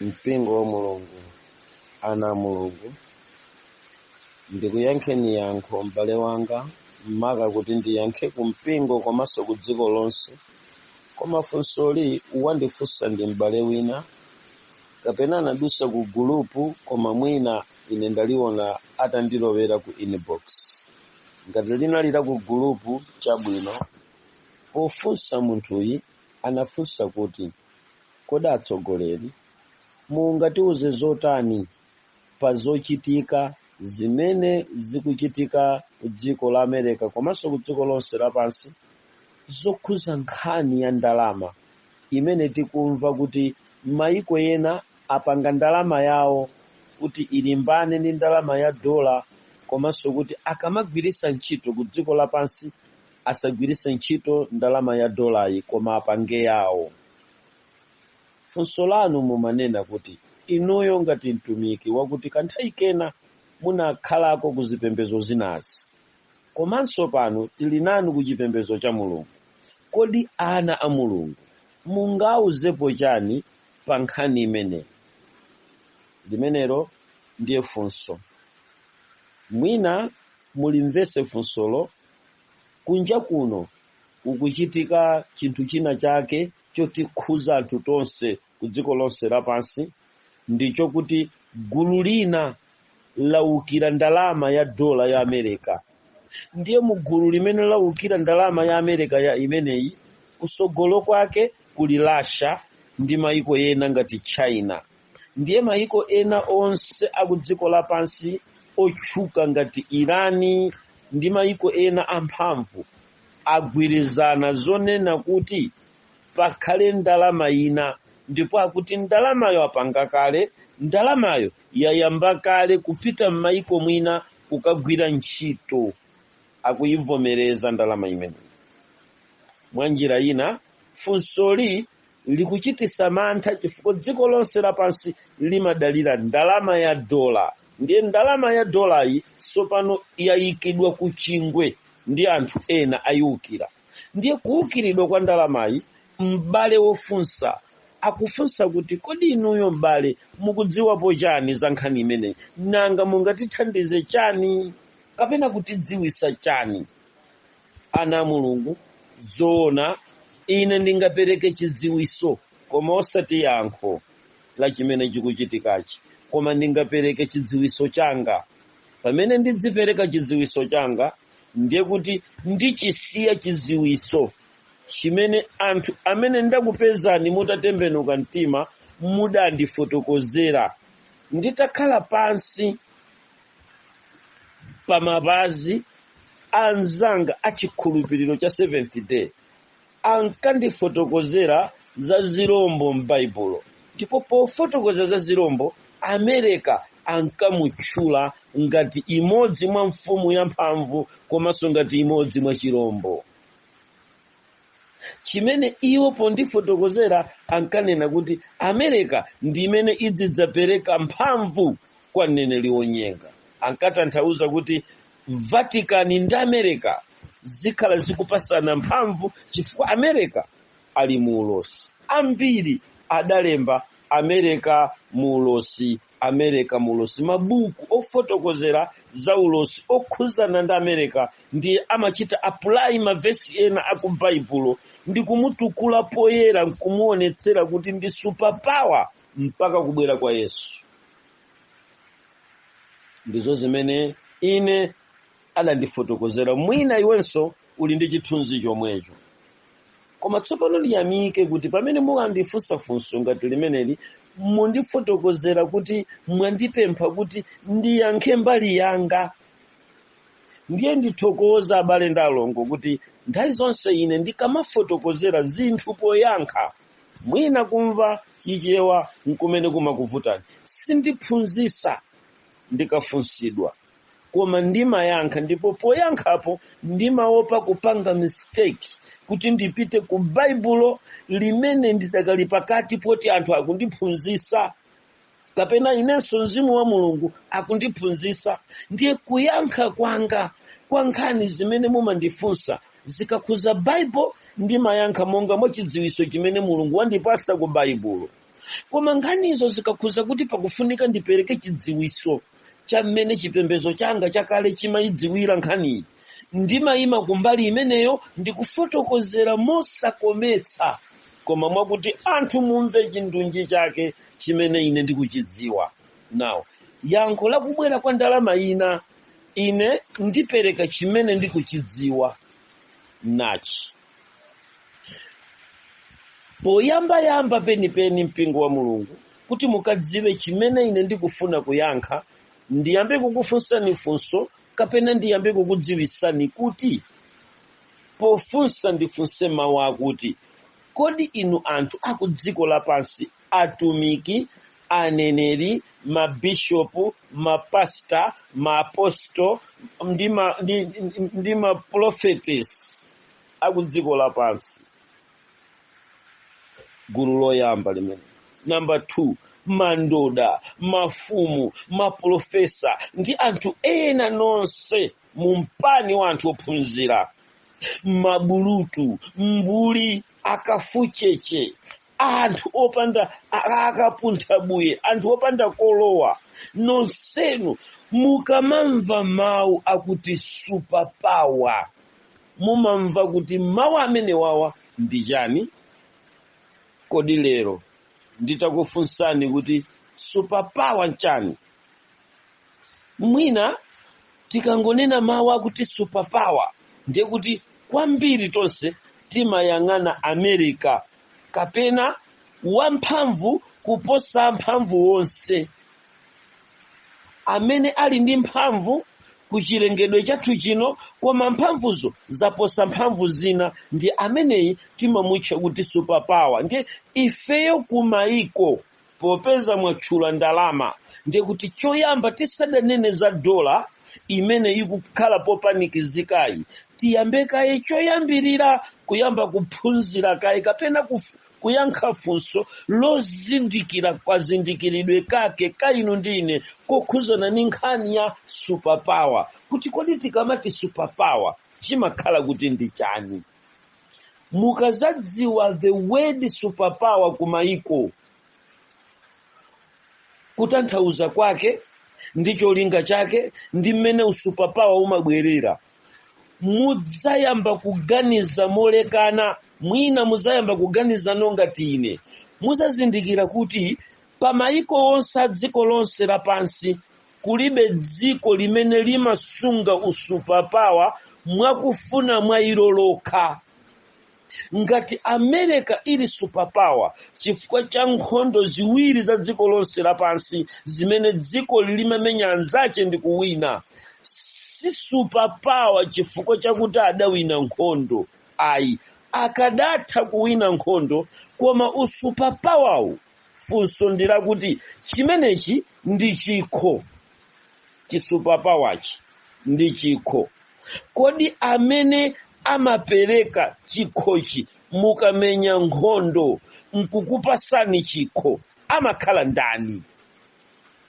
mpingo wa mulungu ana a mulungu ndikuyankheni yankho m'bale wanga maka kuti ndiyankhe ku mpingo komanso ku dziko lonse koma funsoli wandifunsa ndi m'bale wina kapena anadusa ku gulupu koma mwina ine ndaliona atandilowera ku inbox ngati linali la ku gulupu chabwino pofunsa munthuyi anafunsa kuti, Kodi atsogoleri mungatiuze zotani pa zochitika zimene zikuchitika kudziko la America komanso kudziko lonse lapansi zokhuza nkhani ya ndalama imene tikumva kuti mayiko ena apanga ndalama yawo kuti ilimbane ndi ndalama ya dola komanso kuti akamagwiritsa ntchito kudziko lapansi asagwiritse ntchito ndalama ya dolayi koma apange yawo funso lanu mumanena kuti inuyo ngati mtumiki wakuti kanthawi kena munakhalako ku zipembedzo zinazi komanso pano tili nanu ku chipembedzo cha mulungu kodi ana a mulungu mungauzepo chani pa nkhani imeneyi limenelo ndiye funso mwina mulimvese funsolo kunja kuno kukuchitika chinthu china chake chotikhuza anthu tonse ku dziko lonse lapansi ndicho kuti gulu lina laukira ndalama ya dola ya America ndiye mu gulu limene laukira ndalama ya America imeneyi kusogolo kwake kuli Russia ndi maiko ena ngati china ndiye mayiko ena onse akudziko lapansi otchuka ngati irani ndi mayiko ena amphamvu agwirizana zonena kuti pakhale ndalama ina ndipo akuti ndalamayo apanga kale ndalamayo yayamba kale kupita m'mayiko mwina kukagwira ntchito akuyivomereza ndalama imeneyi mwa njira ina funsoli likuchitisa mantha chifukwa dziko lonse lapansi limadalira ndalama ya dola ndiye ndalama ya dolayi sopano yayikidwa ku chingwe ndi anthu ena ayiwukira ndiye kuwukiridwa kwa ndalamayi m'bale wofunsa akufunsa kuti kodi inuyo m'bale mukudziwapo chani za nkhani imeneyi nanga mungatithandize chani kapena kutidziwisa chani ana a mulungu zoona ine ndingapereke chidziwiso koma osati yankho la chimene chikuchitikachi koma ndingapereke chidziwiso changa pamene ndidzipereka chidziwiso changa ndiye kuti ndichisiya chidziwiso chimene anthu amene ndakupezani mutatembenuka mtima mudandifotokozera nditakhala pansi pa mapazi anzanga a chikhulupiriro cha seventh day ankandifotokozera za zirombo m'baibulo ndipo pofotokoza za zirombo america ankamutchula ngati imodzi mwa mfumu yamphamvu komanso ngati imodzi mwa chirombo chimene iwo pondifotokozera ankanena kuti america ndi imene idzidzapereka mphamvu kwa mneneri wonyenga ankatanthauza kuti vatican ndi america zikhala zikupasana mphamvu chifukwa america ali mu ulosi ambiri adalemba america mu ulosi america mu ulosi mabuku ofotokozera za ulosi okhuzana ndi america ndiye amachita apply mavesi ena a ku baibulo ndi kumutukula poyera nkumuonetsera kuti ndi superpower mpaka kubwera kwa yesu ndizo zimene ine adandifotokozera mwina iwenso uli ndi chithunzi chomwecho koma tsopano ndiyamike kuti pamene mukandifunsa funso ngati limeneli mundifotokozera kuti mwandipempha kuti ndiyankhe mbali yanga ndiye ndithokoza abale ndi alongo kuti nthawi zonse ine ndikamafotokozera zinthu poyankha mwina kumva chichewa nkumene kumakuvutani sindiphunzisa ndikafunsidwa koma ndimayankha ndipo poyankhapo ndimaopa kupanga mistake kuti ndipite ku baibulo limene ndidakali pakati poti anthu akundiphunzisa kapena inenso mzimu wa mulungu akundiphunzisa ndiye kuyankha kwanga kwa nkhani zimene mumandifunsa zikakhuza bible ndimayankha monga mwa chidziwiso chimene mulungu wandipasa ku baibulo koma nkhanizo zikakhuza kuti pakufunika ndipereke chidziwitso cha mmene chipembedzo changa chakale chimayidziwira nkhaniyi ndimayima kumbali imeneyo ndikufotokozera mosakometsa koma mwakuti anthu mumve chindunji chake chimene ine ndikuchidziwa now yankho lakubwera kwa ndalama ina ine ndipereka chimene ndikuchidziwa nachi poyambayamba penipeni mpingo wa mulungu kuti mukadziwe chimene ine ndikufuna kuyankha ndiyambe kukufunsani funso kapena ndiyambe kukudziwisani kuti pofunsa ndifunse mawu akuti kodi inu anthu aku dziko lapansi atumiki, aneneri, mabishopu, mapasta, maaposto ndi ma- ndi- ndi- ndi maprophetess a ku dziko lapansi gulu loyamba limene namba 2 mandoda mafumu maprofesa ndi anthu ena nonse mu mpani wa anthu ophunzira mabulutu mbuli akafucheche anthu opanda a- akapuntha buye anthu opanda kolowa nonsenu mukamamva mawu akuti super power mumamva kuti mawu amenewawa ndi chani kodi lero nditakufunsani kuti super power nchani mwina tikangonena mawu akuti super power ndiye kuti kwambiri tonse timayang'ana america kapena wamphamvu kuposa amphamvu onse amene ali ndi mphamvu ku chilengedwe chathu chino koma mphamvuzo zaposa mphamvu zina ndi ameneyi timamutcha kuti superpower ndiye ifeyo kumayiko popeza mwatchula ndalama ndiye kuti choyamba tisadanene za dola imene ikukhala popanikizikayi tiyambe kaye choyambirira kuyamba kuphunzira kaye kapena kuf- kuyankha funso lozindikira kazindikiridwe kake ka inu ndi ine kokhuzana ndi nkhani ya superpower kuti kodi tikamati superpower chimakhala kuti ndi chani mukazadziwa the word superpower kumayiko kutanthauza kwake ndi cholinga chake ndi mmene usupapawa umabwerera mudzayamba kuganiza molekana mwina mudzayamba kuganizano ngati ine muzazindikira kuti pa mayiko onse a dziko lonse lapansi kulibe dziko limene limasunga usupapawa mwakufuna mwa ilo lokha ngati america ili superpower chifukwa cha nkhondo ziwiri za dziko lonse lapansi zimene dziko limamenya anzache ndi kuwina si superpower chifukwa chakuti adawina nkhondo ayi akadatha kuwina nkhondo koma usupapawawu funso ndi lakuti chimenechi ndi chikho chi-superpower-chi ndi chikho kodi amene amapereka chikhochi mukamenya nkhondo nkukupasani chikho amakhala ndani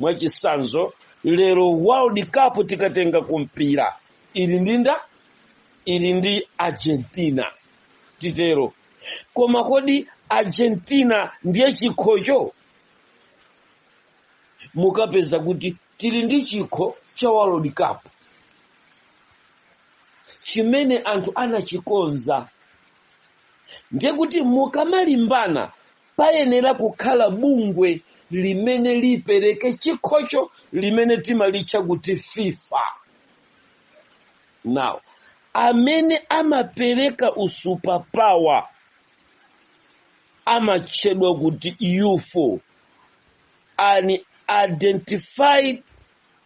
mwachisanzo lero world cup tikatenga kumpira ili ndi nda ili ndi argentina titero koma kodi argentina ndiye chikhocho mukapeza kuti tili ndi chikho cha world cup chimene anthu anachikonza ndiye kuti mukamalimbana payenera kukhala bungwe limene lipereke chikhocho limene timalitcha kuti fifa now amene amapereka usuperpower amatchedwa kuti ufo unidentified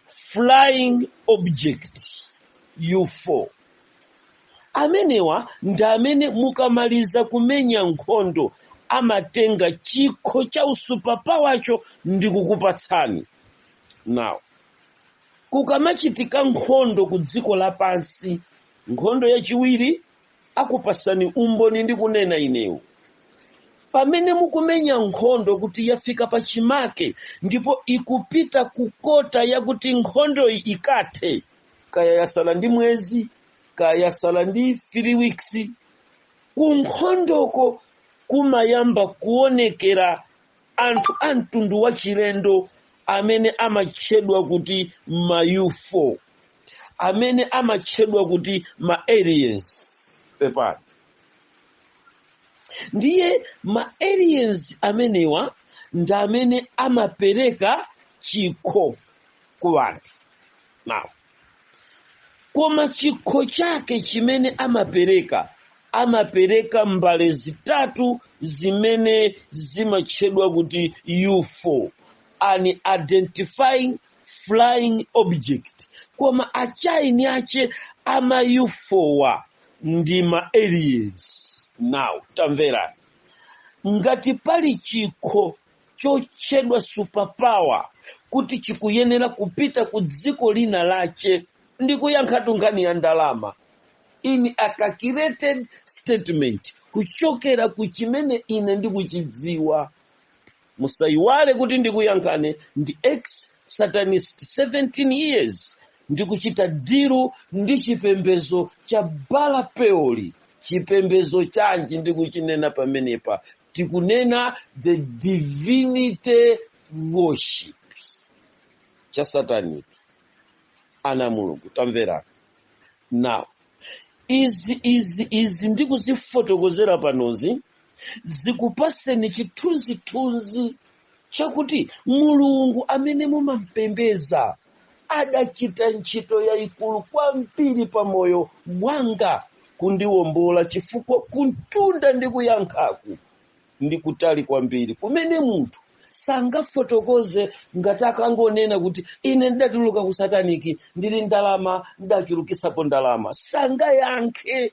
flying object ufo amenewa ndi amene mukamaliza kumenya nkhondo amatenga chikho cha usuperpower-cho ndi kukupatsani now Kukamachitika nkhondo ku dziko lapansi, nkhondo yachiwiri, nkupasani umboni ndikunena inewu. Pamene mukumenya nkhondo kuti yafika pa chimake ndipo ikupita ku kota yakuti nkhondoyi ikathe, kaya yasala ndi mwezi, kaya yasala ndi 3 weeks, kunkhondoko kumayamba kuonekera anthu a mtundu wachilendo amene amatchedwa kuti ma ufo amene amatchedwa kuti ma aliens pepani ndiye ma aliens amenewa ndi amene amapereka chikho ku anthu now koma chikho chake chimene amapereka amapereka mbale zitatu zimene zimatchedwa kuti ufo unidentified flying object koma achieni ache ama ufowa ndi ma aliens now tamvera ngati pali chikho chotchedwa superpower kuti chikuyenera kupita ku dziko lina lache ndikuyankhatu nkhani ya ndalama in a calculated statement kuchokera ku chimene ine ndikuchidziwa musayiwale kuti ndikuyankhane ndi ex satanist 17 years ndikuchita diru ndi chipembezo cha Baala Peori chipembezo chanji ndikuchinena pamenepa tikunena the divinity worship cha satanic ana a mulungu tamverani now izi izi izi ndikuzifotokozera panozi zikupatseni chithunzithunzi chakuti Mulungu amene mumampembeza adachita ntchito yayikulu kwambiri pa moyo wanga kundiwombola chifukwa kumtunda ndikuyankhaku ndi kutali kwambiri kumene munthu sangafotokoze ngati akangonena kuti ine ndidatuluka ku sataniki ndili ndi ndalama ndidachulukitsapo ndalama sangayankhe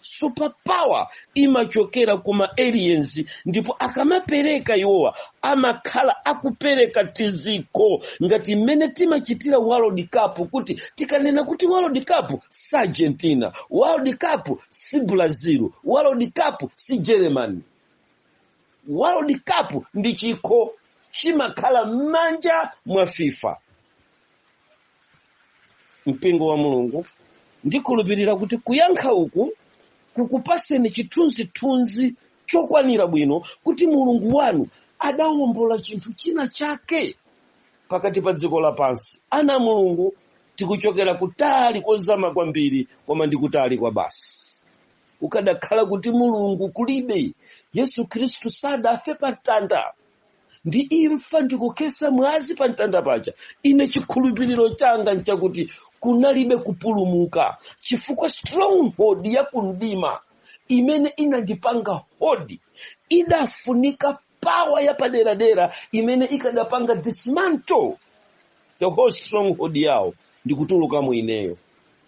superpower imachokera kuma aliens ndipo akamapereka iwowa amakhala akupereka tizikho ngati mmene timachitira world cup kuti tikanena kuti world cup si argentina world cup si brazil world cup si germany world cup ndi chikho chimakhala m'manja mwa fifa mpingo wa mulungu ndikhulupirira kuti kuyankha uku kukupatseni chithunzithunzi chokwanira bwino kuti mulungu wanu adawombola chinthu china chake pakati pa dziko lapansi ana a mulungu tikuchokera kutali kozama kwambiri koma ndi kutali kwabasi ukadakhala kuti mulungu kulibe yesu khristu sadafe pa mtanda ndi imfa ndi kukhetsa mwazi pa mtanda paja ine chikhulupiriro changa nchakuti kunalibe kupulumuka chifukwa stronghold ya kumdima imene inandipanga hold idafunika power yapaderadera imene ikadapanga dismantle the whole stronghold yawo ndikutulukamo ineyo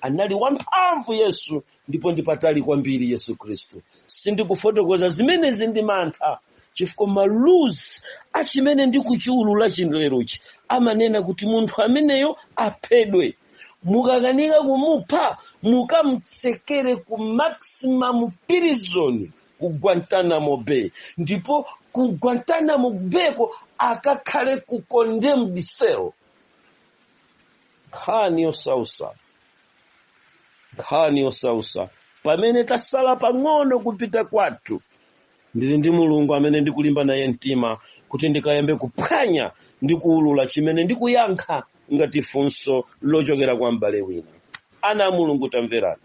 anali wamphamvu yesu ndipo ndi patali kwambiri yesu khristu sindikufotokoza zimenezi ndi mantha chifukwa ma rules achimene ndikuchiulula cha lerochi amanena kuti munthu ameneyo aphedwe mukakanika kumupha mukamtsekere ku maximum prison ku guantanamo bay ndipo ku guantanamo bayko akakhale ku condemned cell nkhani yosausa nkhani yosausa pamene tasala pang'ono kupita kwathu ndili ndi mulungu amene ndikulimba naye mtima kuti ndikayambe kuphwanya ndi kuulula chimene ndikuyankha ngati funso lochokera kwa m'bale wina ana a mulungu tamverani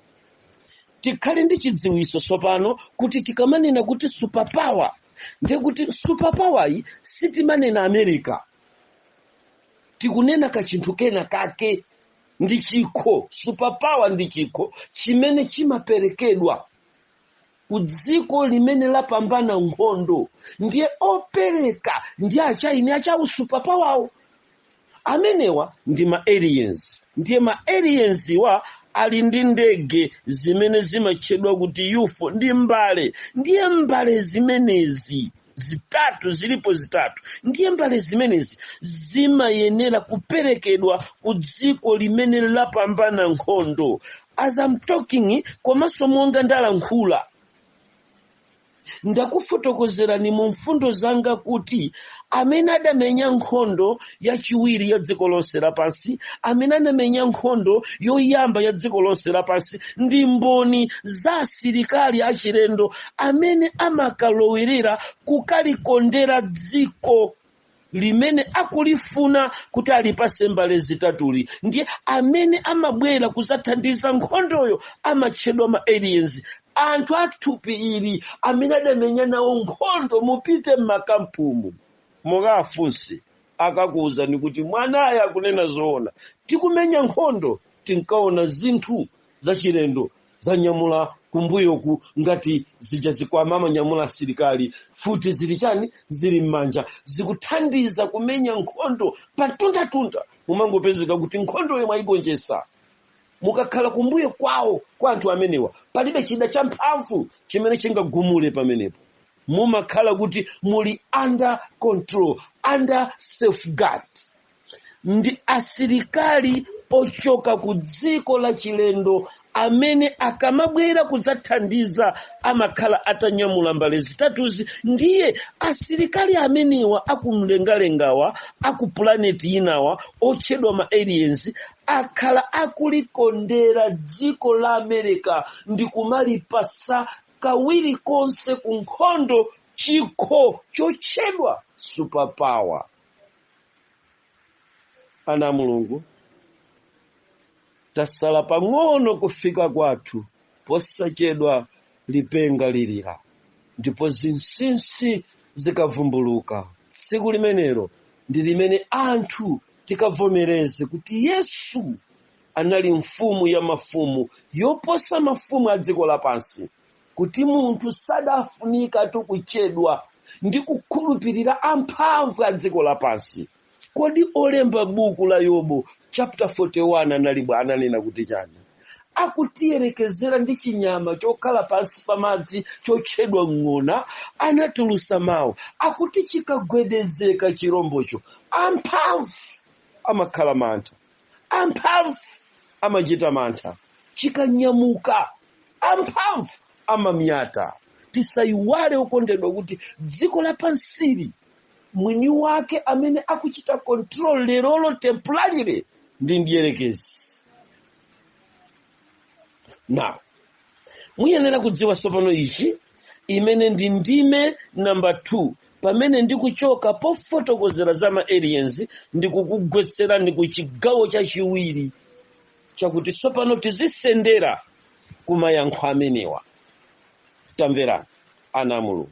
tikhale ndi chidziwitso tsopano kuti tikamanena kuti superpower ndiye kuti superpoweryi sitimanena america tikunena ka chinthu kena kake ndi chikho superpower ndi chikho chimene chimaperekedwa ku dziko limene lapambana nkhondo ndiye opereka ndi achaini achawo superpowerwo amenewa ndi ma aliens ndiye ma alienswa ali ndi ndege zimene zimatchedwa kuti UFO ndi mbale ndiye mbale zimenezi zitatu zilipo zitatu ndiye mbale zimenezi zimayenera kuperekedwa ku dziko limene lapambana nkhondo as I'm talking komanso monga ndalankhula ndakufotokozerani mu mfundo zanga kuti amene adamenya nkhondo yachiwiri ya dziko lonse lapansi amene anamenya nkhondo yoyamba ya dziko lonse lapansi ndi mboni za asilikali achilendo amene amakalowerera kukalikondera dziko limene akulifuna kuti alipase mbale zitatuzi ndiye amene amabwera kuzathandiza nkhondoyo amatchedwa ma aliens anthu athupi ili amene adamenya nawo nkhondo mupite m'makampumu mukafunse akakuwuzani kuti mwanayo akunena zoona tikumenya nkhondo tinkaona zinthu zachilendo zanyamula kumbuyoku ngati zija zikwama amanyamula asilikali futi zili chani zili m'manja zikuthandiza kumenya nkhondo patundatunda mumangopezeka kuti nkhondoyo mwayigonjetsa mukakhala kumbuyo kwawo kwa anthu amenewa palibe chida champhamvu chimene chingagumule pamenepo mumakhala kuti muli under control under safeguard ndi asilikali ochoka ku dziko la chilendo amene akamabwera kudzathandiza amakhala atanyamula mbale zitatuzi ndiye asilikali amenewa akumlengalengawa aku planet inawa otchedwa ma aliens akhala akulikondera dziko la america ndi kumalipasa kawiri konse ku nkhondo chikho chotchedwa superpower ana a mulungu tasala pang'ono kufika kwathu posachedwa lipenga lilira ndipo zinsinsi zikavumbuluka tsiku limenelo ndi limene anthu tikavomereze kuti yesu anali mfumu ya mafumu yoposa mafumu a dziko lapansi kuti munthu sadafunikatu kuchedwa ndi kukhulupirira amphamvu a dziko lapansi kodi olemba buku la yobu chapter 41 analiba ananena kuti chani akutiyerekezera ndi chinyama chokhala pansi pa madzi chotchedwa ng'ona anatulusa mawu akuti chikagwedezeka chirombocho amphamvu amakhala mantha amphamvu amachita mantha chikanyamuka amphamvu amamyata tisayiwale okondedwa kuti dziko lapansili mwini wake amene akuchita control lerolo temporarily ndi mdierekezi now muyenera kudziwa tsopano ichi imene ndi ndime namba 2 pamene ndikuchoka pofotokozera za ma aliens ndikukugwetserani ku chigawo chachiwiri chakuti tsopano tizisendera ku mayankho amenewa tamverani ana a mulungu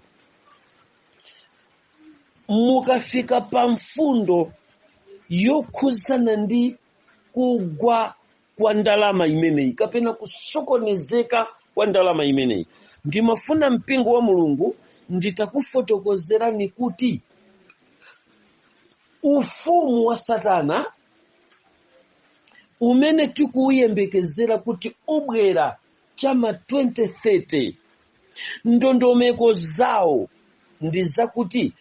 mukafika pa mfundo yokhuzana ndi kugwa kwa ndalama imeneyi kapena kusokonezeka kwa ndalama imeneyi ndimafuna mpingo wa mulungu nditakufotokozerani kuti ufumu wa satana umene tikuuyembekezera kuti ubwera chama 2030 ndondomeko zawo ndi zakuti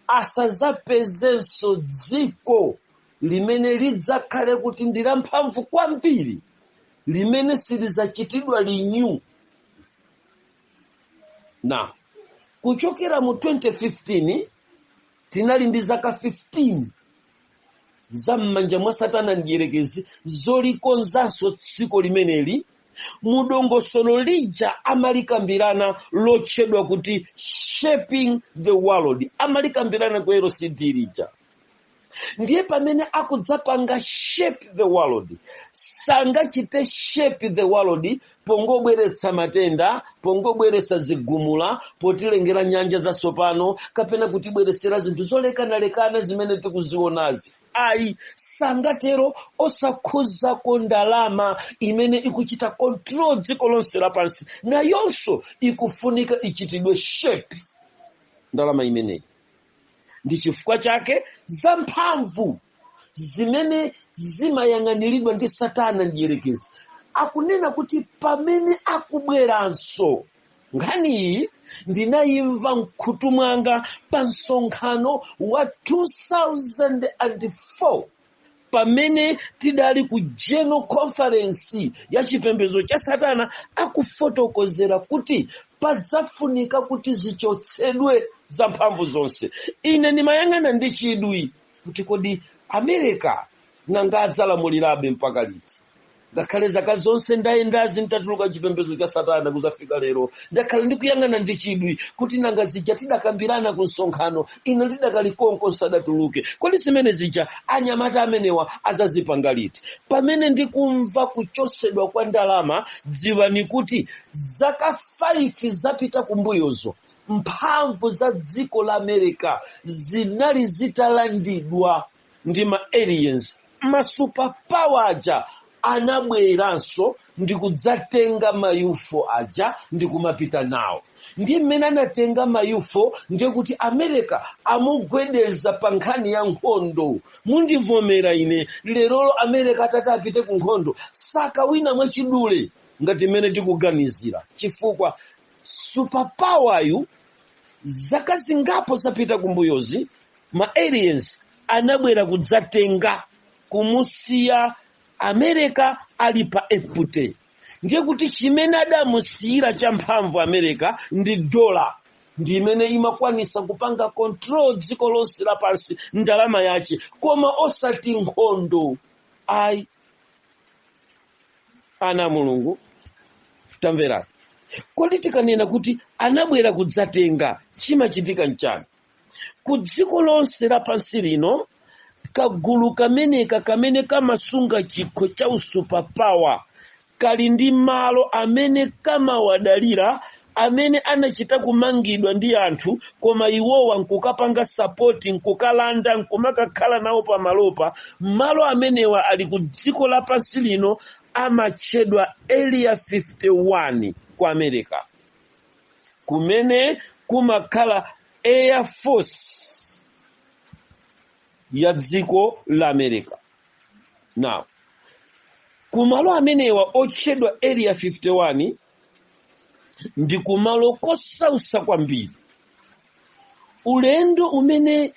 asazapezenso dziko limene lidzakhale kuti ndi lamphamvu kwambiri limene silidzachitidwa renew na kuchokera mu 2015 tinali ndi zaka 15 za m'manja mwa satana mdierekezi zolikonzanso dziko limeneli mu dongosolo lija amalikambirana lotchedwa kuti shaping the world amalikambirana ku lcd lija ndiye pamene akudzapanga shape the world sangachite shape the world pongobweretsa matenda pongobweretsa zigumula potilengera nyanja zatsopano kapena kutibweretsera zinthu zolekanalekana zimene tikuzionazi ayi sangatero osakhuzako ndalama imene ikuchita control dziko lonse lapansi nayonso ikufunika ichitidwe shape ndalama imeneyi ndi chifukwa chake za mphamvu zimene zimayang'aniridwa ndi satana mdierekezi akunena kuti pamene akubweranso nkhani iyi ndinayimva mkhutu mwanga pa msonkhano wa 2004 pamene tidali ku general conference ya chipembedzo cha satana akufotokozera kuti padzafunika kuti zichotsedwe za mphamvu zonse ine ndimayang'ana ndi chidwi kuti kodi america nanga adzalamulirabe mpaka liti ngakhale zaka zonse ndayendazi ntatuluka chipembedzo cha satana kuzafika lero ndakhala ndikuyang'ana ndi chidwi kuti nanga zija tidakambirana ku msonkhano ine ndidakali konko nsadatuluke kodi zimene zija anyamata amenewa azazipanga liti pamene ndikumva kuchosedwa kwa ndalama dziwani kuti zaka 5 zapita kumbuyozo mphamvu za dziko la america zinali zitalandidwa ndi ma aliens ma superpower aja anabweranso ndi kudzatenga ma ufo aja ndi kumapita nawo ndi mmene anatenga ma ufo ndiye kuti america amugwedeza pa nkhani ya nkhondo mundivomera ine lerolo america atati apite ku nkhondo sakawina mwachidule ngati mmene tikuganizira chifukwa superpower yu zaka zingapo zapita kumbuyozi ma aliens anabwera kudzatenga kumusiya america ali pa empty ndiye kuti chimene adamusiyira champhamvu america ndi dola ndi imene imakwanisa kupanga control dziko lonse lapansi ndalama yace koma osati nkhondo ayi ana a mulungu tamverani kodi tikanena kuti anabwera kudzatenga chimachitika nchani ku dziko lonse lapansi lino kagulu kameneka kamene kamasunga chikho cha usuperpower kali ndi malo amene kamawadalira amene anachita kumangidwa ndi anthu koma iwowa nkukapanga support nkukalanda nkumakakhala nawo pamalopa malo amenewa ali ku dziko lapansi lino amatchedwa area 51 ku america kumene kumakhala air force ya dziko la america now kumalo amenewa otchedwa area 51 ndi kumalo kosausa kwambiri ulendo umene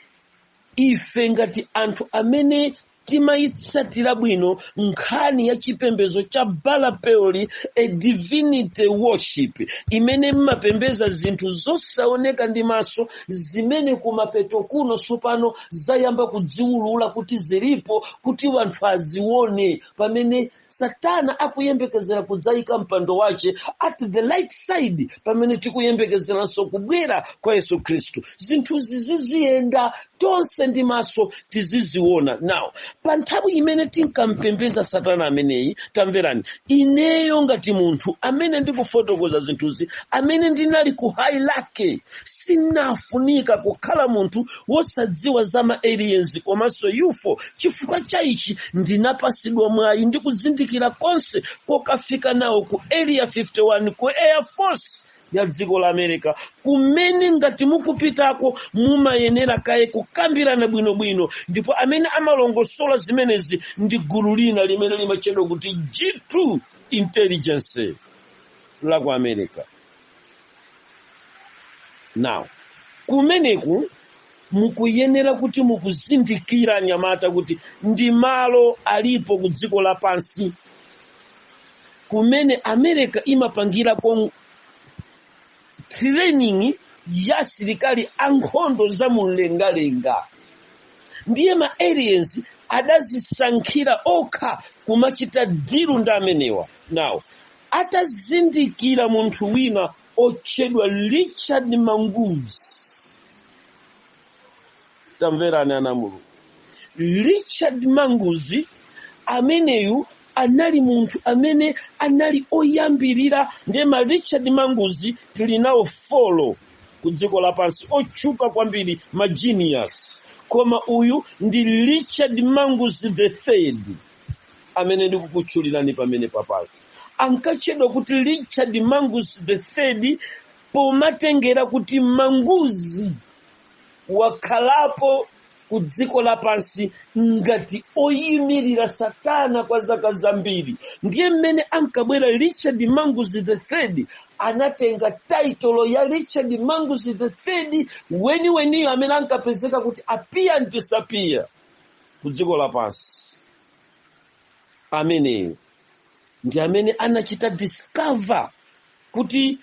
ife ngati anthu amene timayitsatira bwino nkhani ya chipembedzo cha baala peori a divinity worship imene mmapembeza zinthu zosaoneka ndi maso zimene kumapeto kuno tsopano zayamba kudziwulula kuti zilipo kuti wanthu azione pamene satana akuyembekezera kudzayika mpando wache at the right side pamene tikuyembekezeranso kubwera kwa yesu khristu zinthuzi ziziyenda tonse ndi maso tiziziona now pa nthawi imene tinkampembeza satana ameneyi tamverani ineyo ngati munthu amene ndikufotokoza zinthuzi amene ndinali ku high rank sinafunika kukhala munthu wosadziwa za ma aliens komanso ufo chifukwa cha ichi ndinapasidwa mwayi ndi kuzindikira konse kokafika nawo ku area 51 ku air force ya dziko la america kumene ngati mukupitako mumayenera kaye kukambirana bwinobwino ndipo amene amalongosola zimenezi ndi gulu lina limene limatchedwa kuti g2 intelligence la ku america now kumeneku mukuyenera kuti mukuzindikira anyamata kuti ndi malo alipo ku dziko lapansi kumene america imapangirako training ya asilikali ankhondo za mumlengalenga ndiye ma aliens adazisankhira okha kumachita dilu ndi amenewa now atazindikira munthu wina otchedwa richard manguzi tamverani ana mulungu richard manguzi ameneyu anali munthu amene anali oyambirira ndiye ma richard manguzi tili nawo four ku dziko lapansi otchuka kwambiri ma genius koma uyu ndi richard manguzi the third amene ndikukutchulirani pamene papayo ankatchedwa kuti richard manguzi the third pomatengera kuti manguzi wakhalapo ku dziko lapansi ngati oyimirira satana kwa zaka zambiri ndiye mmene ankabwera richard manguzi the third anatenga title ya richard manguzi the third weniweniyo amene ankapezeka kuti appear and disappear ku dziko lapansi ameneyo ndi amene anachita discover kuti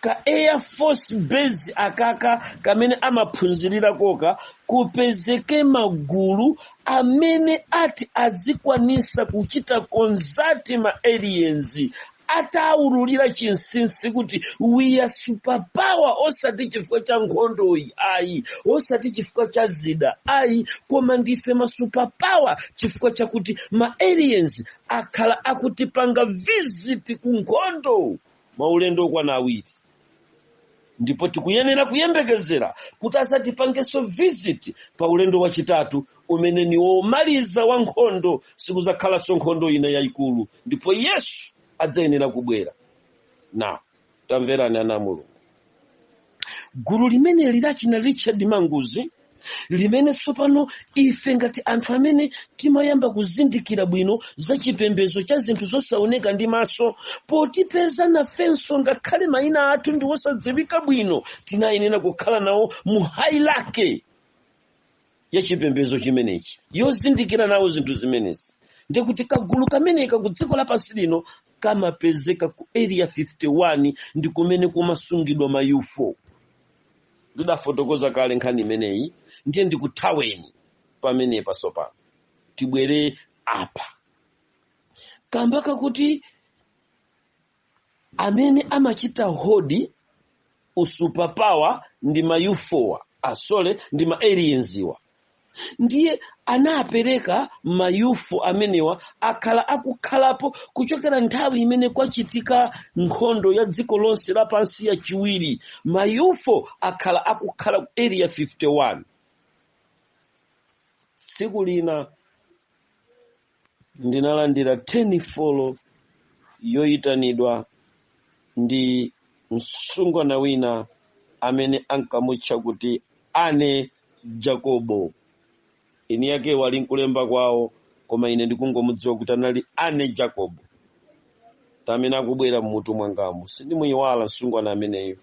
ka air force base akaka kamene amaphunzirira koka kupezeke magulu amene ati adzikwanisa kuchita consult ma aliens ataululira chinsinsi kuti we are superpower osati chifukwa cha nkhondoyi ayi osati chifukwa cha zida ayi koma ndife ma superpower chifukwa chakuti ma aliens akhala akutipanga visit ku nkhondo maulendo okwana awiri ndipo tikuyenera kuyembekezera kuti adzatipangenso visit pa ulendo wachitatu umene ni womaliza wa nkhondo sikuzakhalanso nkhondo ina yayikulu ndipo yesu adzayenera kubwera na tamverani ana a mulungu gulu limeneli lachina richard manguzi limene tsopano ife ngati anthu amene timayamba kuzindikira bwino za chipembedzo cha zinthu zosaoneka ndi maso potipeza nafenso ngakhale mayina athu ndi osadziwika bwino tinayenera kukhala nawo mu hierarchy ya chipembedzo chimenechi yozindikira nawo zinthu zimenezi ndikuti kagulu kameneka ku dziko lapansi lino kamapezeka ku area 51 ndi kumene kumasungidwa ma UFO ndidafotokoza kale nkhani imeneyi ndiye ndikuthaweni pamenepa tsopano tibwere apa kamba kakuti amene amachita hold usuperpower ndi ma UFO-wa sorry ndi ma aliens-wa ndiye anapereka ma UFO amenewa akhala akukhalapo kuchokera nthawi imene kwachitika nkhondo ya dziko lonse lapansi yachiwiri ma UFO akhala akukhala ku area 51 tsiku lina ndinalandira telefoni yoyitanidwa ndi msungwana wina amene ankamutcha kuti Annie Jacobo eni akewo ali nkulemba kwawo koma ine ndikungomudziwa kuti anali Annie Jacobo amene akubwera mmutu mwangamu sindimuyiwala msungwana ameneyo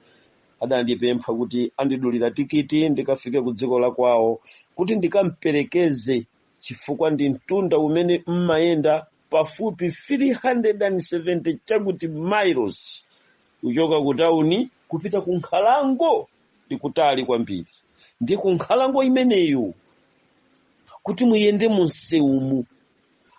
adandipempha kuti andidulira tikiti ndikafike ku dziko la kwawo kuti ndikamperekeze chifukwa ndi mtunda umene mmayenda pafupi 370 chakuti miles kuchoka ku tauni kupita ku nkhalango ndi kutali kwambiri ndi ku nkhalango imeneyo kuti muyende mu msewumu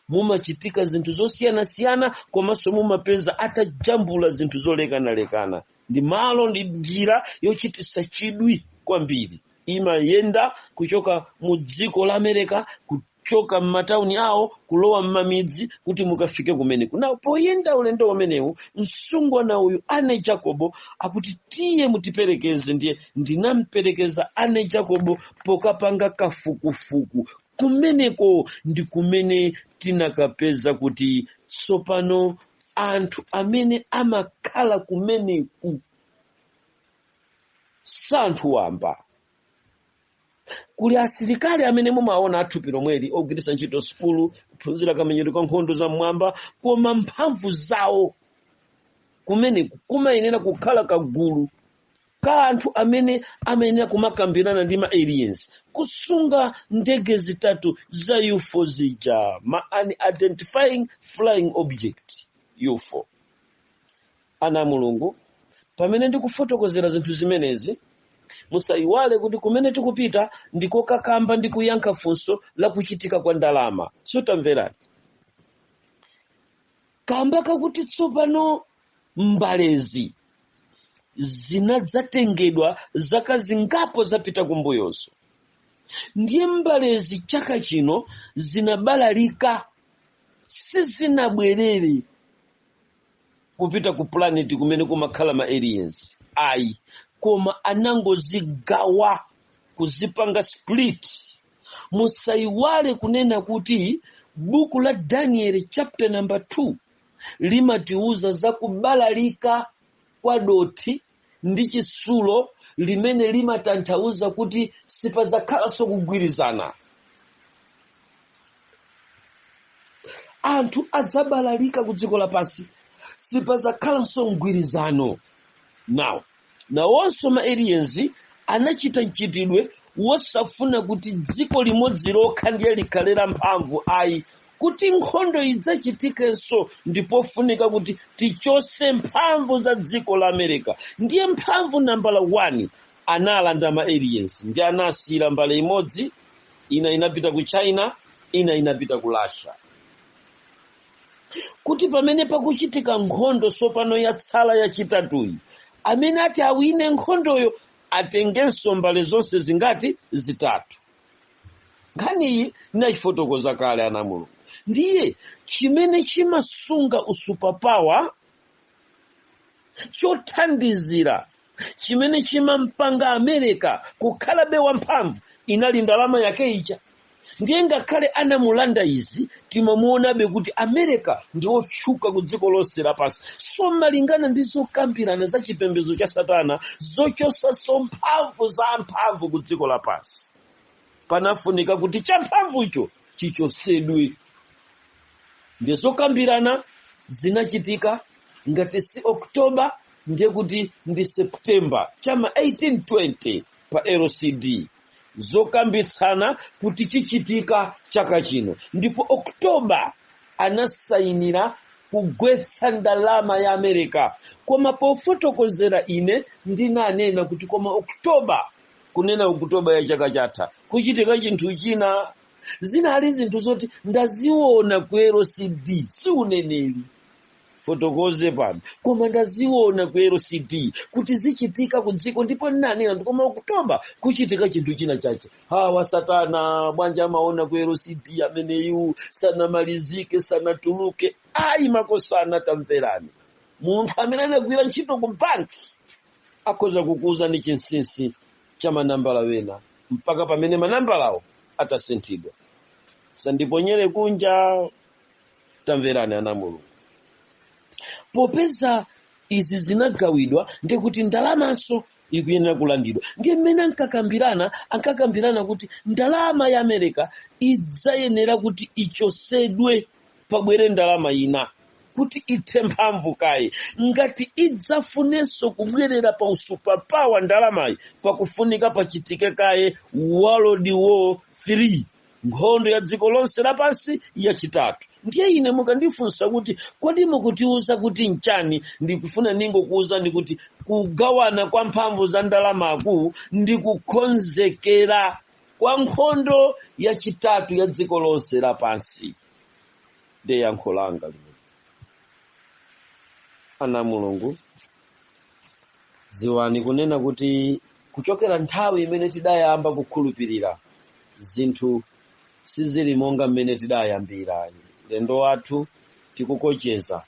mumachitika zinthu zosiyanasiyana komanso mumapeza atajambula zinthu zolekanalekana ndi malo ndi njira yochititsa chidwi kwambiri imayenda kuchoka mu dziko la america ku- choka m'matauni awo kulowa m'mamidzi kuti mukafike kumeneku na poyenda ulendo umenewu msungwana uyu Annie Jacobo akuti tiye mutiperekeze ndiye ndinamperekeza Annie Jacobo pokapanga kafukufuku kumeneko ndi kumene tinakapeza kuti tsopano anthu amene amakhala kumeneku si anthu wamba kuli asilikali amene mumaona athupi lomweli ogwiritsa ntchito sukulu kuphunzira kamenyero ka nkhondo za mmwamba koma mphamvu zawo kumeneku kumayenera kukhala kagulu ka anthu amene amayenera kumakambirana ndi ma aliens kusunga ndege zitatu za ufo zija ma unidentifying flying object ufo Ana a Mulungu, pamene ndikufotokozera zinthu zimenezi, musaiwale kuti kumene tikupita ndi kokakamba ndi kuyankha funso la kuchitika kwa ndalama. So tamverani kamba kakuti tsopano mbalezi zinadzatengedwa zaka zingapo zapita kumbuyozo ndiye mbalezi chaka chino zinabalalika sizinabwerere kupita ku planet kumene kumakhala ma aliens ayi koma anangozigawa kuzipanga split musayiwale kunena kuti buku la daniel chapter number 2 limatiuza za kubalalika kwa dothi ndi chitsulo limene limatanthauza kuti sipadzakhalanso kugwirizana anthu adzabalalika ku dziko lapansi sipadzakhalanso mgwirizano now nawonso ma aliens anachita mchitidwe wosafuna kuti dziko limodzi lokha ndiye likhale la mphamvu ayi kuti nkhondo idzachitikenso ndi pofunika kuti tichose mphamvu za dziko la america ndiye mphamvu nambala 1 analanda ma aliens ndiye anasiyira mbale imodzi ina inapita ku china ina inapita ku russia kuti pamene pakuchitika nkhondo tsopano yatsala yachitatuyi amene ati awine nkhondoyo atengenso mbale zonse zingati zitatu nkhaniyi nachifotokoza kale ana mulungu ndiye chimene chimasunga usupapawa chothandizira chimene chimampanga america kukhalabe wamphamvu inali ndalama yake ija ndiye ngakhale anamulanda izi timamuonabe kuti america ndi otchuka ku dziko lonse lapansi so malingana ndi zokambirana za chipembedzo cha satana zochosaso mphamvu za amphamvu ku dziko lapansi panafunika kuti champhamvucho chichosedwe ndiye zokambirana zinachitika ngati si oktoba ndiye kuti ndi septemba chama 1820 pa lcd zokambitsana kuti chichitika chaka chino ndipo oktoba anasayinira kugwetsa ndalama ya america koma pofotokozera ine ndinanena kuti koma oktoba kunena oktoba ya chaka chatha kuchitika chinthu china zinali zinthu zoti ndaziona ku lcd si uneneri fotokoze pano koma ndaziona ku lcd kuti zichitika ku dziko ndipo ndinanena kuti koma oktoba kuchitika chinthu china chache awa satana bwanja amaona ku lcd ameneyu sanamalizike sanatuluke ayi makosana tamverani munthu amene anagwira ntchito ku banki akhoza kukuuzani chinsinsi cha manambala wena mpaka pamene manambalawo atasinthidwa sandiponyere kunja tamverani ana a mulungu popeza izi zinagawidwa ndi kuti ndalamanso ikuyenera kulandidwa ndiye mmene ankakambirana ankakambirana kuti ndalama ya america idzayenera kuti ichosedwe pabwere ndalama ina kuti ithe mphamvu kaye ngati idzafunenso kubwerera pa usupapawa ndalamayi pakufunika pachitike kaye world war 3 nkhondo ya dziko lonse lapansi yachitatu ndiye ine mukandifunsa kuti kodi mukutiuza kuti nchani ndikufuna ningokuuzani kuti kugawana kwa mphamvu za ndalamaku ndi kukonzekera kwa nkhondo yachitatu ya dziko lonse lapansi ndiye yankho langa limene ana mulungu dziwani kunena kuti kuchokera nthawi imene tidayamba kukhulupirira zinthu sizili monga mmene tidayambira ulendo wathu tikukocheza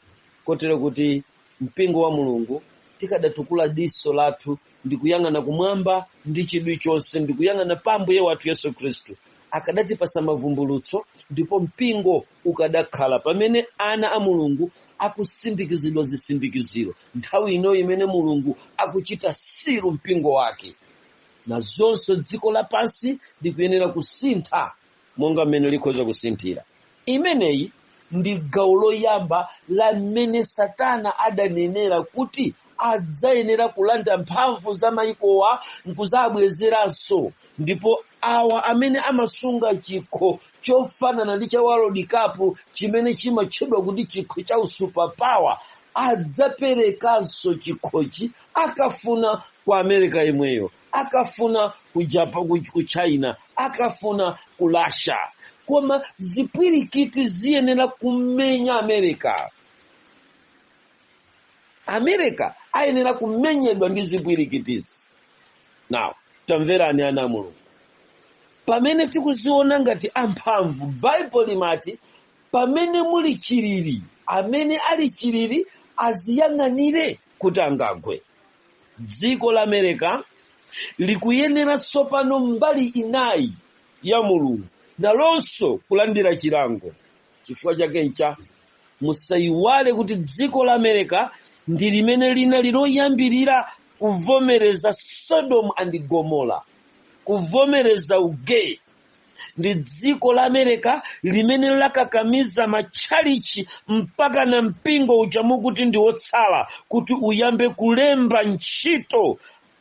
kotero kuti mpingo wa mulungu tikadatukula diso lathu ndi kuyang'ana kumwamba ndi chidwi chonse ndi kuyang'ana pa ambuye wathu yesu khristu akadatipasa mavumbulutso ndipo mpingo ukadakhala pamene ana a mulungu akusindikizidwa zisindikiziro nthawi ino imene mulungu akuchita siru mpingo wake nazonso dziko lapansi likuyenera kusintha monga mmene likhoza kusinthira imeneyi ndi gawo loyamba la mmene satana adanenera kuti adzayenera kulanda mphamvu za mayikowa nkuzabwezeranso ndipo awa amene amasunga chikho chofanana ndi cha world cup chimene chimatchedwa kuti chikho cha usupapawa adzaperekanso chikhochi akafuna ku america yemweyo akafuna ku Japan, ku, ku china akafuna ku russia koma zipwirikiti ziyenera kumenya america america ayenera kumenyedwa ndi zipwirikitizi now tamverani ana a mulungu pamene tikuziona ngati amphamvu baibulo limati pamene muli chiliri amene ali chiliri aziyang'anire kuti angagwe dziko la america likuyenera tsopano mbali inayi ya mulungu nalonso kulandira chilango chifukwa chakecho musayiwale kuti dziko la america ndi limene linali loyambirira kuvomereza sodom and gomorrah kuvomereza ugay ndi dziko la america limene lakakamiza matchalichi mpaka na mpingo uja mukuti ndi wotsala kuti uyambe kulemba ntchito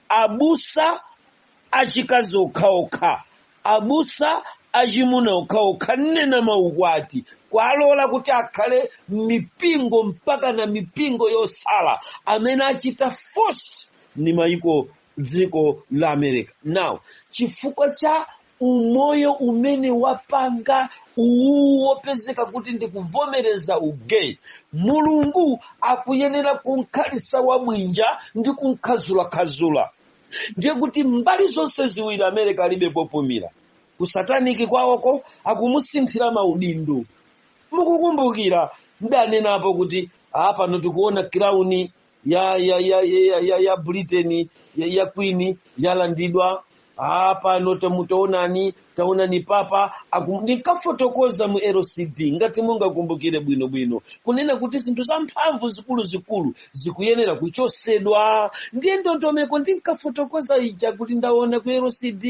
abusa achikazi okhaokha abusa achimuna okhaokha kunena maukwati kuwalola kuti akhale m'mipingo mpaka na mipingo yotsala amene achita force ni maiko dziko la america now chifukwa cha umoyo umene wapanga uwu wopezeka kuti ndikuvomereza ugay mulungu akuyenera kumkhalitsa wabwinja ndi kumkhadzulakhadzula ndiye kuti mbali zonse ziwiri america alibe popumira kusataniki kwawoko akumusinthira maudindo mukukumbukira ndanenapo kuti apano tikuona crown ya ya ya ya, ya, ya britain ya, ya queen yalandidwa Ah, pano tamu- taonani taonani papa akum- ndinkafotokoza mu lcd ngati mungakumbukire bwinobwino kunena kuti zinthu zamphamvu zikuluzikulu zikuyenera kuchotsedwa ndiye ndondomeko ndinkafotokoza ija kuti ndaona ku lcd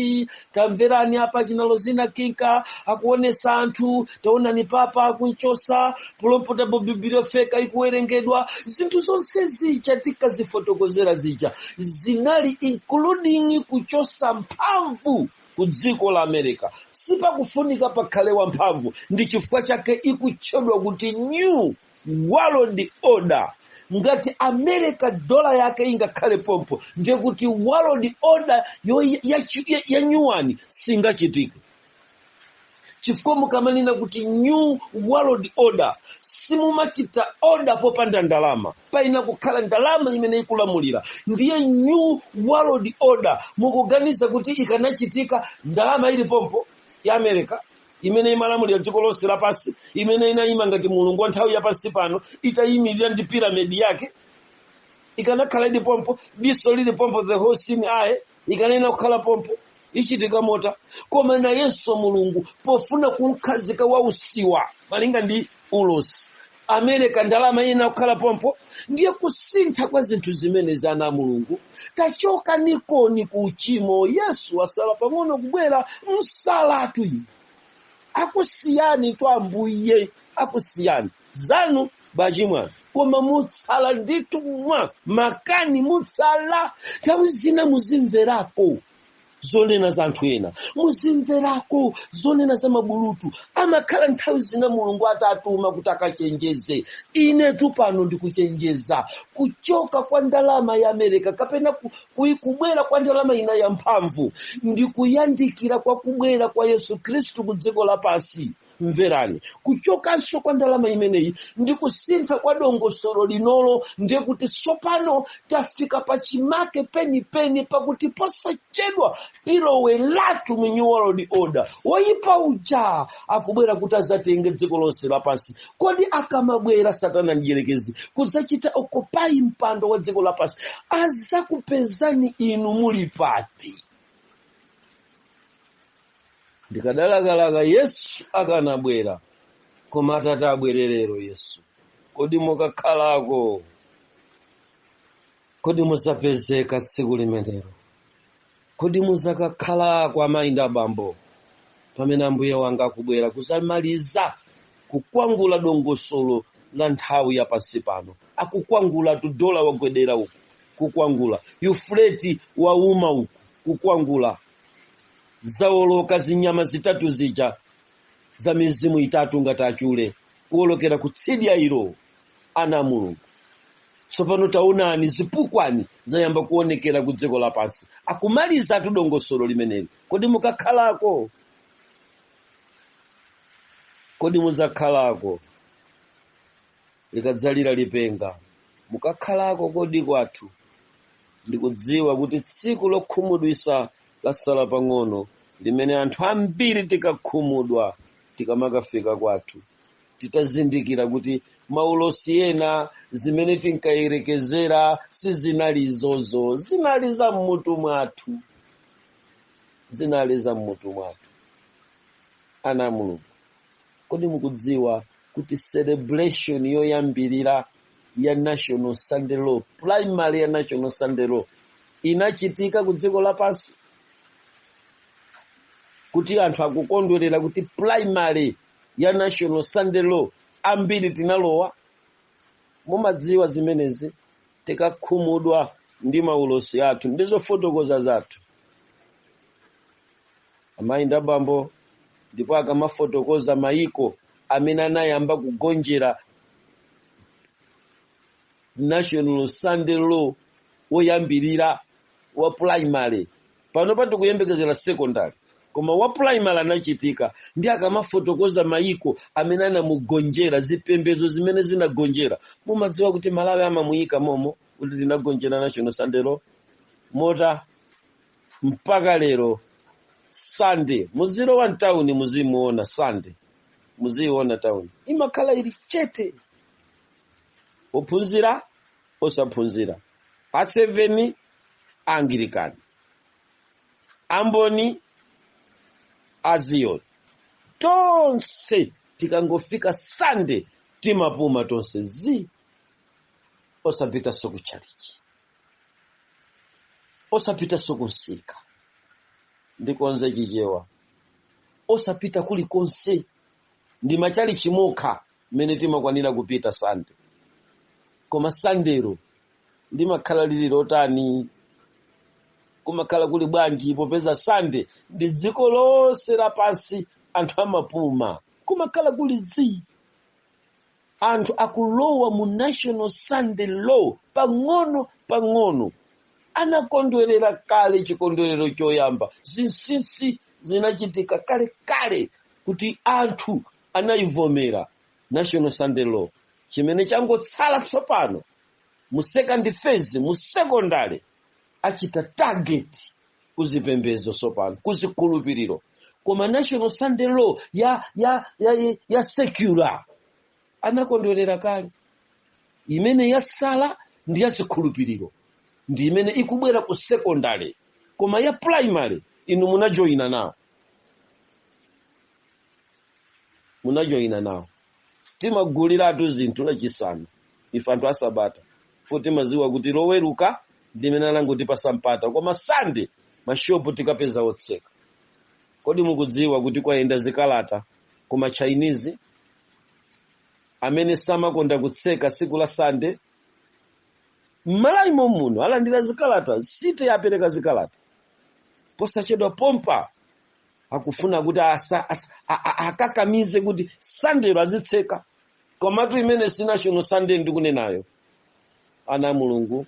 tamverani apa chinalo zina kinka akuonetsa anthu taonani papa akumchotsa pulopotable bibliofeka ikuwerengedwa zinthu zonse zija tinkazifotokozera zija zinali including kuchotsa mphamvu ku dziko la america sipakufunika pakhale wamphamvu ndi chifukwa chake ikutchedwa kuti new world order ngati america dola yake ingakhale pompo ndiye kuti world order yo ya- ya- ya- yanyuwani singachitike chifukwa mukamanena kuti new world order simumachita order popanda ndalama payenera kukhala ndalama imene ikulamulira ndiye new world order mukuganiza kuti ikanachitika ndalama ili pompo ya america imene imalamulira dziko lonse lapansi imene inayima ngati mulungu wa nthawi yapansi pano itayimirira ndi piramidi yake ikanakhala ili pompo diso lili pompo the whole scene aye ikanayenera kukhala pompo ichitika motani koma nayenso mulungu pofuna kumkhazika wausiwa malinga ndi ulosi amerika ndalama ina kukhala pompo ndiye kusintha kwa zinthu zimene zana a mulungu tachoka nikoni ku uchimo yesu asala pang'ono kubwera msalatu inu akusiyani tu ambuye akusiyani zanu bachimwa koma mutsala ndithu mwa makani mutsala nthawi zina muzimverako zonena za anthu ena muzimverako zonena za mabulutu amakhala nthawi zina mulungu atatuma kuti akachenjeze inetu pano ndikuchenjeza kuchoka kwa ndalama ya amerika kapena kubwera kwa ndalama ina ya mphamvu ndi kuyandikira kwa kubwera kwa yesu khristu ku dziko lapansi mverani kuchokanso kwa ndalama imeneyi ndi kusintha kwa dongosolo linolo ndiye kuti tsopano tafika pa chimake penipeni pakuti posachedwa tilowe latu mu new world order woyipa uja akubwera kuti azatenge dziko lonse lapansi kodi akamabwera satana mdierekezi kudzachita okupayi mpando wa dziko lapansi azakupezani inu muli pati ndikadalakalaka yesu akanabwera koma atati abwere lero yesu kodi mukakhalako kodi muzapezeka tsiku limenelo kodi muzakakhalako amayi ndi abambo pamene ambuye wanga akubwera kuzamaliza kukwangula dongosolo la nthawi ya pansi pano akukwangulatu dola wagwedera uku kukwangula yufuleti wauma uku kukwangula zawoloka zinyama zitatu zija za mizimu itatu ngati achule kuwolokera kutsidya ilo ana a mulungu tsopano taonani zipukwani zayamba kuonekera ku dziko lapansi akumalizatu dongosolo limeneli kodi mukakhalako kodi mudzakhalako likadzalira lipenga mukakhalako kodi kwathu ndikudziwa kuti tsiku lokhumudwisa lasala pang'ono limene anthu ambiri tikakhumudwa tikamakafika kwathu titazindikira kuti maulosi ena zimene tinkayerekezera sizinali izozo zinali za mmutu mwathu zinali za mmutu mwathu ana a mulungu kodi mukudziwa kuti celebration yoyambirira ya national sunday law primary ya national sunday law inachitika ku dziko lapansi kuti anthu akukondwerera kuti primary ya national sunday law ambiri tinalowa mumadziwa zimenezi tikakhumudwa ndi maulosi athu ndi zofotokoza zathu amayi ndi abambo ndipo akamafotokoza mayiko amene anayamba kugonjera national sunday law woyambirira wa primary panopa tikuyembekezera secondary koma wa primary anachitika ndi akamafotokoza mayiko amene anamugonjera zipembedzo zimene zinagonjera mumadziwa kuti malawi amamuyika momo kuti tinagonjera national sunday law mota mpaka lero sande muzilowa mtawuni muzimuona sande muziiona tawuni imakhala ili chete ophunzira osaphunzira a seveni anglican amboni aziyoni tonse tikangofika sande timapuma tonse zii osapitanso ku chalichi osapitanso kumsika ndikonze chichewa osapita kulikonse ndi mmachalichi mokha mmene timakwanira kupita sande koma sandelo limakhala lili lotani kumakhala kuli bwanji popeza sande ndi dziko lonse lapansi anthu amapuma kumakhala kuli zii anthu akulowa mu national sunday law pang'ono pang'ono anakondwerera kale chikondwerero choyamba zinsinsi zinachitika kale kale kuti anthu anayivomera national sunday law chimene changotsala tsopano mu second phase mu secondary achita target kuzipembedzo tsopano kuzikhulupiriro koma national sunday law ya ya ya, ya, ya secular anakondwerera kale imene yasala ndi ya zikhulupiriro ndi imene ikubwera ku secondary koma ya primary inu munajoyina nawo munajoyina nawo timaguliratu zinthu lachisanu ife anthu asabata fo timaziwa kuti loweruka ndimene anangotipasa mpata koma sande mashopu tikapeza otseka kodi mukudziwa kuti kwayenda zikalata kuma chinese amene samakonda kutseka siku la sande mmalawi momuno alandira zikalata city yapereka zikalata posachedwa pompa akufuna kuti asa, asa, a, a, akakamize kuti sandelo azitseka komatu imene si national sunday ndikunenayo ana a mulungu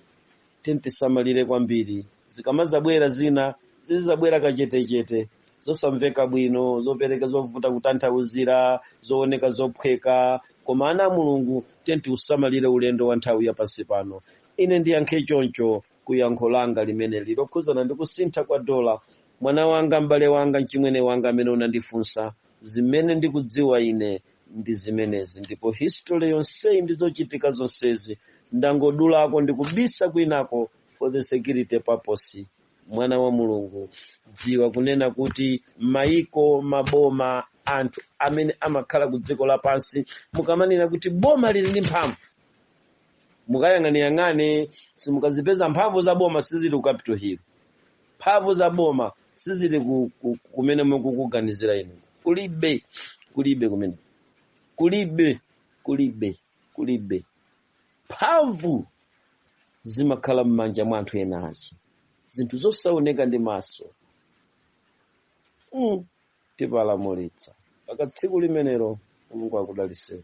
tiyeni tisamalire kwambiri zikamazabwera zina zizabwera kachetechete zosamveka bwino zopereka zovuta kutanthauzira zooneka zophweka koma ana a mulungu tiyeni tiusamalire ulendo wa nthawi ya pansi pano ine ndiyankhe choncho ku yankho langa limene lili lokhudzana ndi kusintha kwa dola, mwana wanga, m'bale wanga, mchimwene wanga amene unandifunsa, zimene ndikudziwa ine ndi zimenezi. Ndipo history yonseyi ndi zochitika zonsezi ndangodulako ndi kubisa kwinako for the security purpose. Mwana wa Mulungu, dziwa kunena kuti maiko, maboma, anthu amene amakhala ku dziko lapansi, mukamanena kuti boma lili ndi mphamvu, mukayang'aneyang'ane simukazipeza mphamvu za boma sizili ku capital hill mphamvu za boma sizili kumene mukukuganizira inu kulibe kulibe kumene kulibe kulibe kulibe mphamvu zimakhala m'manja mwa anthu ena achi zinthu zosaoneka ndi maso mm. tipalamulitsa paka tsiku limenelo mulungu akudaliseni